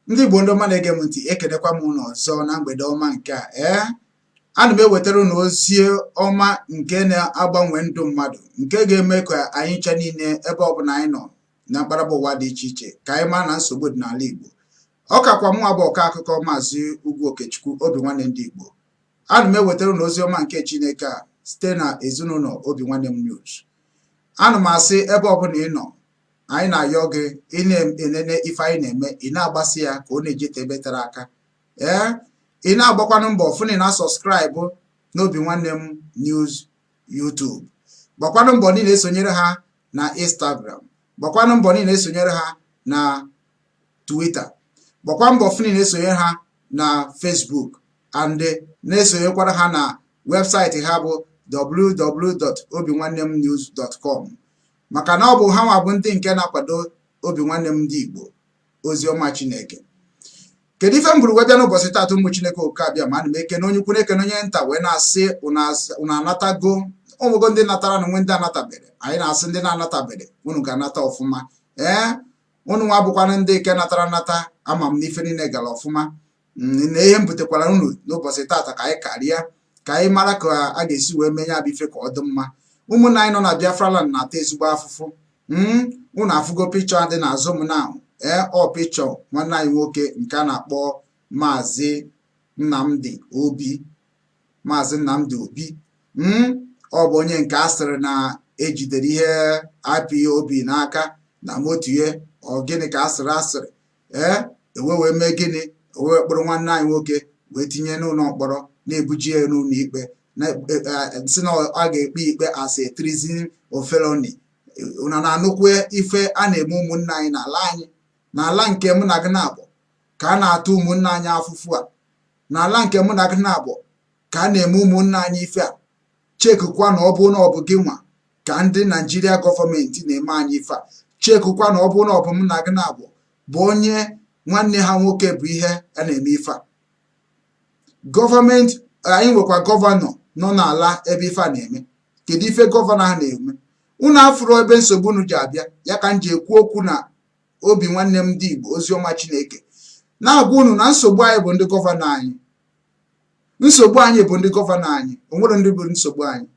ndị Igbo ndị ọma na-ege m ntị ekenekwa m unu ọzọ na mgbede ọma nke a ee ana m ewetara unu ozi ọma nke na-agbanwe ndụ mmadụ nke ga-eme ka anyị ncha niile ebe ọbụla anyị nọ na mkparaba ụwa dị iche iche ka anyị maa na nsogbu dị n'ala Igbo ọ kakwa mụ abụ ọkọ akụkọ maazị Ugwu Okechukwu obi nwanne ndị Igbo ana m ewetara unu ozi ọma nke Chineke a site na ezinụnọ obi nwanne m news ana m asị ebe ọbụla ị nọ anyị na-ayọ gị ị na-enene ife anyị na-eme ị na-agbasa ya ka ọ na-ejete ebe tere aka ee ị na-agbakwanụ mbọ fụ na ị na-asọskraịbụ n'obi nwanne m news YouTube gbakwanụ mbọ na ị na-esonyere ha na Instagram gbakwanụ mbọ na ị na-esonyere ha na Twitter gbakwa mbọ fụ na ị na-esonyere ha na Facebook and na-esonyekwara ha na webụsaịtị ha bụ www.obinwannemnews.com maka na ọ bụ ha nwa bụ ndị nke na-akwado obi nwanne m ndị Igbo ozi ọma Chineke kedu ife m buru wee bịa n'ụbọsị taata ụmụ Chineke oke abịama ana m ekene onye ukwu na-ekene onye nta wee na-asị unu anatago o nwego ndị natara na nwe ndị anatabere anyị na-asị ndị na-anatabere unu ga-anata ọfụma ee unu nwa bụkwanụ ndị nke natara nata ama m na ife niile gara ọfụma mm, na ihe m butekwara unu n'ụbọsị taata ka anyị karịa ka anyị mara ka a ga-esi wee mee ya bụ ife ka ọ dị mma ụmụnna anyị nọ na Biafra land na-ata ezigbo afụfụ mm, unu afụgo pikchọ a dị n'azụ m na ee ọ pikchọ nwanne anyị nwoke nke a na-akpọ maazị Nnamdi Obi maazị Nnamdi Obi mm, ọ bụ onye nke a sịrị na ejidere ihe IPOB n'aka na moto ya ọ gịnị ka a sịrị a sịrị ee e wee wee mee gịnị e wee wee kpọrọ nwanne anyị nwoke wee tinye n'ụnọ mkpọrọ na-ebuji ya n'ụnọ ikpe e, e, sị na a ga-ekpe ikpe as a treason or felony una na-anụkwa ife a na-eme ụmụnna anyị n'ala anyị n'ala nke mụ na gị naabọ ka a na-ata ụmụnna anyị afụfụ a n'ala nke mụ na gị naabọ ka a na-eme ụmụnna anyị ife a chekụkwa na ọ bụ na ọ bụ gị nwa ka ndị naijiria gọọmenti na-eme anyị ife a chekụkwa na ọ bụ na ọ bụ mụ na gị naabọ bụ onye nwanne ha nwoke bụ ihe a na-eme ife a gọọmenti anyị nwekwa gọvanọ nọ n'ala ebe ife a na-eme kedu ife gọvanọ ha na-eme unu afụrụ ebe nsogbu unu ji abịa ya ka m ji ekwu okwu na obi nwanne m ndị igbo oziọma chineke na-agwa unu na nsogbu anyị bụ ndị gọvanọ anyị nsogbu anyị bụ ndị gọvanọ anyị o nwere ndị bụ nsogbu anyị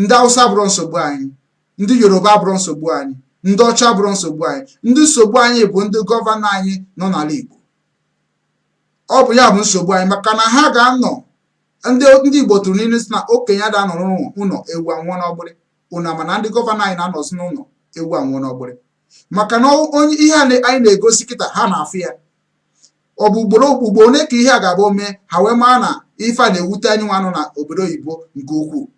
ndị awụsa abụrọ nsogbu anyị ndị yoruba abụrọ nsogbu anyị ndị ọcha abụrọ nsogbu anyị ndị nsogbu anyị bụ ndị gọvanọ anyị nọ n'ala igbo ọ bụ ya bụ nsogbu anyị maka na ha ga-anọ ndị igbo tụrụ n'ilu sị na okenye ada anọrọ ụnọ ewu anwụọ n'ọgbịrị una mana ndị gọvanọ anyị na-anọzi n'ụnọ ewu anwụọ n'ọgbịrị maka na onye ihe a na- anyị na-egosi kịta ha na-afụ ya ọ bụ ugboro ugboro ole ka ihe a ga-abụ mee ha wee maa na ife a na-ewute anyị nwa nọ na obodo oyibo nke ukwuu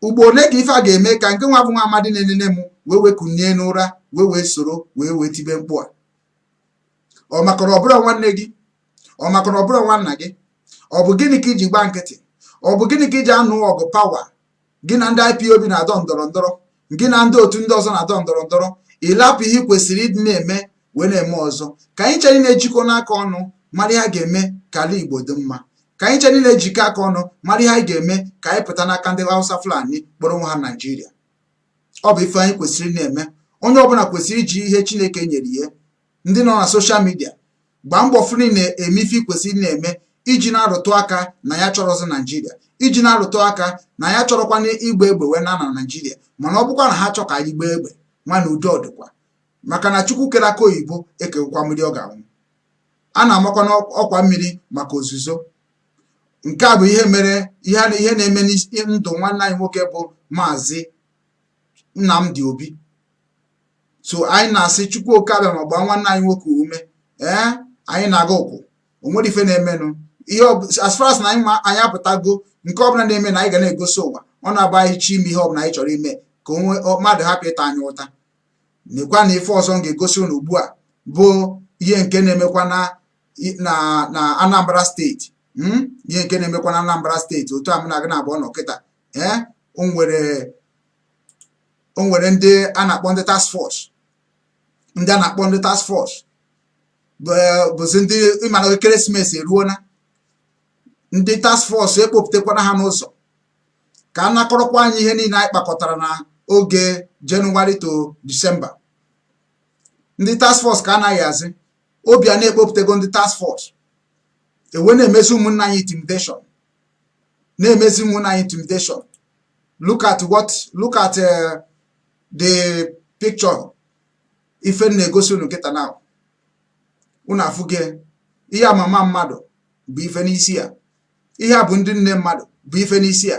ugbo ole ka ife a ga-eme ka nke nwa bụ nwa amadi na-enene m wee wee kunie n'ụra wee wee soro wee wee tibe mkpu a ọ maka na ọ bụrọ nwanne gị ọ maka na ọ bụrọ nwanna gị ọ bụ gịnị ka i ji gba nkịtị ọ bụ gịnị ka i ji anụ ọgụ pawa gị na ndị IPOB na-adọ ndọrọ ndọrọ gị na ndị otu ndị ọzọ na-adọ ndọrọ ndọrọ ị lapụ ihe ị kwesịrị ịdị na-eme wee na-eme ọzọ ka anyị chere na-ejikọ n'aka ọnụ mara ihe a ga-eme ka ala Igbo dị mma ka anyị chere na-ejikọ aka ọnụ mara ihe anyị ga-eme ka anyị pụta n'aka ndị Hausa Fulani kpọrọ onwe ha Naijiria ọ bụ ife anyị kwesịrị na-eme onye ọbụla kwesịrị iji ihe Chineke nyere ya ndị nọ na soshal midia gbaa mbọ fụrụ na-eme ife i kwesịrị na-eme iji na-arụtụ aka na anyị achọrọzi naijiria iji na-arụtụ aka na anyị achọrọkwanụ igba egbe wee naa na naijiria mana ọ bụkwa na ha chọọ ka anyị gbaa egbe nwanna udo ọ dịkwa maka na chukwu kere akụ oyibo ekewokwa mmiri ọ ga-aṅụ a na-amakwa n'ọkwa mmiri maka ozuzo nke a bụ ihe mere ihe na ihe na-eme na ndụ nwanne anyị nwoke bụ maazị Nnamdi Obi so anyị na-asị chukwu oke abịama gbaa nwanne anyị nwoke ume ee anyị na-aga ụkwụ onwere ife na-emenụ ihe as far as na anyị anyị apụtago nke ọbụla na-eme na anyị ga na-egosi ụwa ọ na-abụ anyị chọọ ime ihe ọbụla anyị chọrọ ime ka ụmụ mmadụ hapụ ịta anyị ụta nekwa na ife ọzọ m ga-egosi ụnụ ugbu a bụ ihe nke na-emekwa na na Anambra steeti hmm? ihe nke na-emekwa na Anambra steeti otu a mụ na gị na abụọ nọ kịta ee eh? o nwere o nwere ndị a na-akpọ ndị task force ndị a na-akpọ ndị task force bụzi ndị ị ma na ekeresimesi eruona ndị task force ekpopụtakwana ha n'ụzọ ka a nakọrọkwa anyị ihe niile anyị kpakọtara na oge jenụwarị to disemba ndị task force ka anaghị azị Obiano ekpopụtago ndị task force e wee na-emezi ụmụnna anyị intimidation na-emezi ụmụnna anyị intimidation look at what look at uh, the picture ife m na-egosi unu kịta na unu afụgo ihe a mama mmadụ bu ife n'isi ya ihe a bụ ndị nne mmadụ bu ife n'isi ya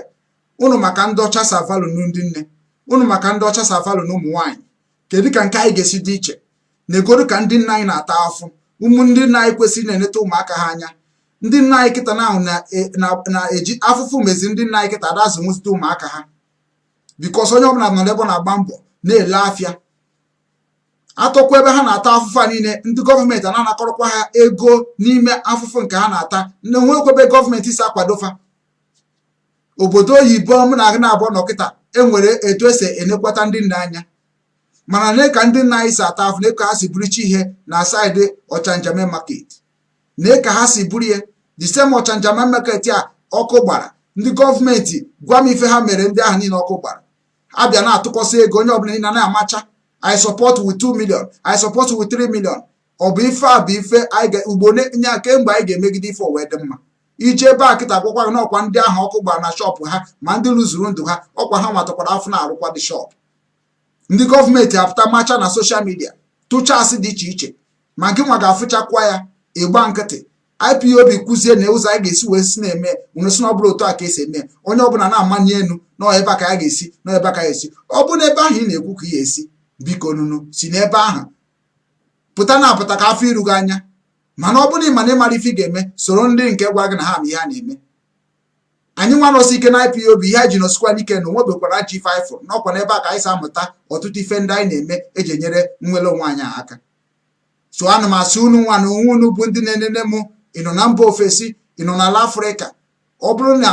unu ma ka ndị ọcha si value ndị nne unu ma ka ndị ọcha si value ụmụ nwaanyị kedu ka nke anyị ga-esi dị iche neegodu ka ndị nne anyị na-ata afụfụ ụmụ ndị nne anyị kwesịrị na-eneta ụmụaka ha anya ndị nna anyị kịta ahụ na-eji afụfụ mezi ndị nna anyị kịta ada azụnwuzite ụmụaka ha bikos onye ọbụla nọ n'ebe na-agba mbọ na-ele afịa atọkwa ebe ha na-ata afụfụ a niile ndị gọọmenti a na-anakọrọkwa ha ego n'ime afụfụ nke ha na-ata na enwekwa ebe gọọmenti si akwado fa obodo oyibo m na-agụ na-abụ nọ kịta enwere etu esi enekwata ndị nna anya mana nee ka ndị nna anyị si ata afụ nee ka ha si buruchi ihe na saịdị ọchanja main market nee ka ha si buru ya the same ọchanja main market a ọkụ gbara ndị gọọmenti gwa m ife ha mere ndị ahụ niile ọkụ gbara ha abịa na-atụkọsị ego onye ọbụla niile na-amacha i support with 2 million i support with 3 million ọ bụ ife a bụ ife anyị ga- ugbo ne- nye kee mgbe anyị ga-emegide ife ọ wee dị mma ị jee ebe a kịta agwakwa gị na ọkwa ndị ahụ ọkụ gbara na shọpụ ha ma ndị luzuru ndụ ha ọkwa ha nwa takwara afụ na-arụkwa the shọpụ ndị gọọmenti apụta macha na soshal midia tụcha asị dị iche iche ma gị nwa ga-afụchakwa ya ị gba nkịtị ipob kwuzie na ụzọ anyị ga-esi wee si na-eme unu sị na ọ bụrọ otu a ka esi eme onye ọbụla na-amani elu na ebe a ka ya ga-esi na ebe a ka ya esi ọ bụ na ebe ahụ ị na-ekwu ka ị ga-esi bikonụ unu si n'ebe ahụ pụta na apụta ka a fụ iru gị anya mana ọ bụrụ na ị ma na ị marọ ife ị ga-eme soro ndị nke gwa gị na ha ma ihe ha na-eme anyị nwa nọsi ike na IPOB ihe anyị ji nọsikwanụ ike na onwebekwara ajọ ife anyị fụrụ na ọkwa n'ebe a ka anyị si amụta ọtụtụ ife ndị anyị na-eme eji enyere nnwere onwe anyị aka so ana m asị unu nwa na onwe unu bụ ndị na-enene m ị nọ na mba ofesi ị nọ n'ala afrịka ọ bụrụ na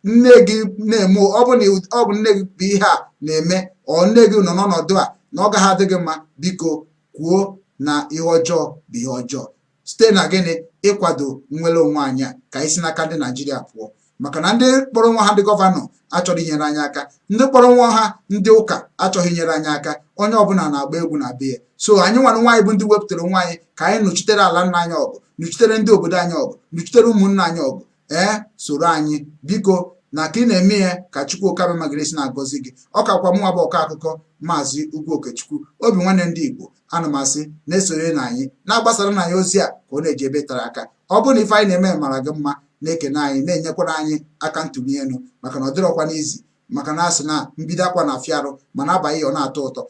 nne gị na-eme ọ bụ na ọ bụ nne gị bụ ihe a na-eme or nne gị nọ n'ọnọdụ a na ọ gaghị adị gị mma biko kwuo na ihe ọjọọ bụ ihe ọjọọ site na gịnị ịkwado nnwere onwe anyị a ka anyị si n'aka ndị naijiria pụọ maka na ndị kpọrọ onwe ha ndị gọvanọ achọghị inyere anyị aka ndị kpọrọ onwe ha ndị ụka achọghị inyere anyị aka onye ọbụla na-agba egwu na be ya so anyị nwa na onwe anyị bụ ndị wepụtara onwe anyị ka anyị nụchitere ala nna anyị ọgụ nụchitere ndị obodo anyị ọgụ nụchitere ụmụnna anyị ọgụ ee soro anyị biko na ka ị na-eme ya ka Chukwu Okike Abiama ga-esi na-agọzi gị ọ kakwa mụnwa bụ ọkọ akụkọ maazị Ugwu Okechukwu obi nwanne ndị Igbo ana m asị na-esonyerenụ anyị na-agbasaranụ anyị ozi a ka ọ na-eje ebe tere aka ọ bụrụ na ife anyị na-eme mara gị mma na-ekene anyị na-enyekwara anyị aka ntụli elu maka na ọ dịrọkwanụ easy maka na a sị na mbido akwa na-afịa arụ mana a baa ya ọ na-atọ ụtọ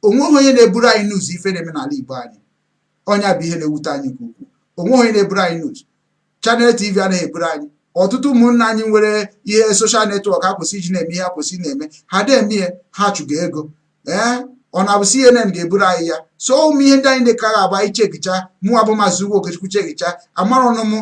onweghị onye na-eburu anyị news ife na-eme n'ala Igbo anyị ọ nya bụ ihe na-ewute anyị nke ukwuu onweghị onye na-eburu anyị news Channels TV anaghị eburu anyị ọtụtụ ụmụnna anyị nwere ihe soshal netwọk ha kwesị iji na-eme ihe ha kwesị na-eme ha na-eme ihe ha chụga ego ee ọ na-abụ CNN ga-eburu anyị ya so ụmụ ihe ndị anyị dịka ga-agba anyị chekicha mụwa bụ maazị Ugwu Okechukwu chekicha amara ọnụ m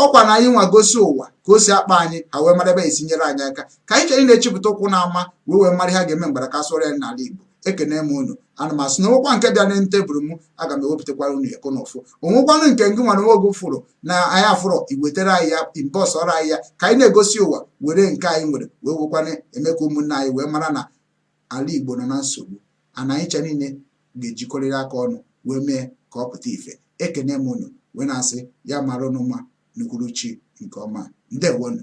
ọkwa na anyị nwa gosi ụwa ka o si akpa anyị ha wee mara ebe esi nyere anyị aka ka anyị chere na-echepụta ụkwụ na-ama wee wee mara ha ga-eme mgbara ka sụọrọ ya n'ala Igbo ekene m unu ana m asị na onwekwa nke bịa na tebụl m aga m ewepụtakwara unu eko na ụfụ onwekwanụ nke ngị nwa na onwe gị fụrụ na anyị afụrọ i wetere anyị ya inbox ọrụ anyị ya ka anyị na-egosi ụwa were nke anyị nwere wee wekwana eme ka ụmụnna anyị wee mara na ala Igbo nọ na nsogbu and anyị cha niile ga-ejikọrịrị aka ọnụ wee mee ka ọ pụta ife ekene m unu wee na-asị ya mara unu mma n'uhuruchi nke ọma ndewonu